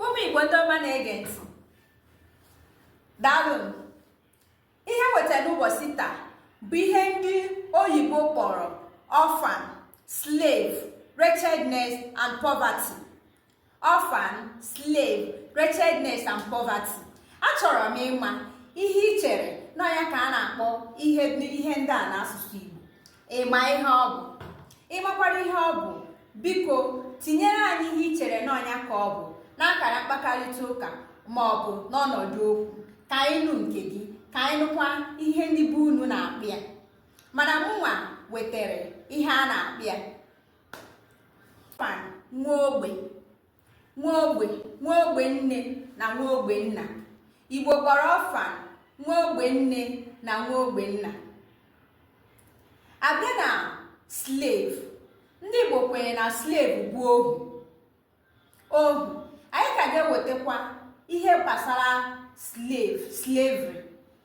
ụmụ igbo ndị ọma na-ege ntị daalụ ihe m wetara n'ụbọchị taa bụ ihe ndị oyibo kpọrọ orphan slave wretchedness and poverty orphan slave wretchedness and poverty achọrọ m ịma ihe i chere na ọ ya ka a na-akpọ ihe ndị a n'asụsụ igbo ị ma ihe ọ bụ ị makwara ihe ọ bụ biko tinyere anyị ihe i chere na ọ ya ka ọ bụ n'akara mkpakọrịta ụka ma ọ bụ n'ọnọdụ okwu ka anyị nụ nke gị ka anyị nụkwa ihe ndị be unu na-akpọ ya mana mụnwa wetara ihe a na-akpọ ya orphan nwa ogbe nwa ogbe nwa ogbe nne na nwa ogbe nna igbo kpọrọ orphan nwa ogbe nne na nwa ogbe nna a bịa na slave ndị igbo kwenyere na slave bụ ohu ohu anyị ka ga-ewetakwa ihe gbasara slave slavery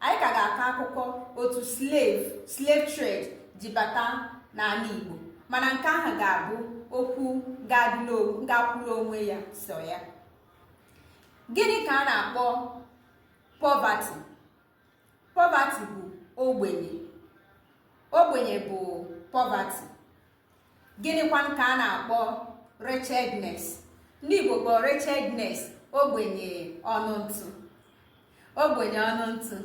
anyị ka ga-akọ akụkọ otu slave slave trade ji bata n'ala Igbo mana nke ahụ ga-abụ okwu ga-akwụrụ onwe ya so ya gịnị ka a na-akpọ poverty poverty bụ ogbenye ogbenye bụ poverty gịnịkwanụ ka a na-akpọ wretchedness ndị igbo kpọọ wretchedness ogbenye ọnụ ntụ ogbenye ọnụ ntụ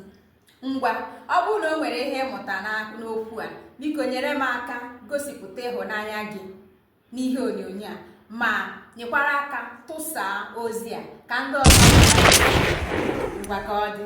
ngwa ọ bụrụ na o nwere ihe ị mụtara n'okwu a biko nyere m aka gosipụta ịhụnanya gị n'ihe onyonyo a ma nyekwara aka tụsaa ozi a ka ndị ọzọ ngwa ka ọ dị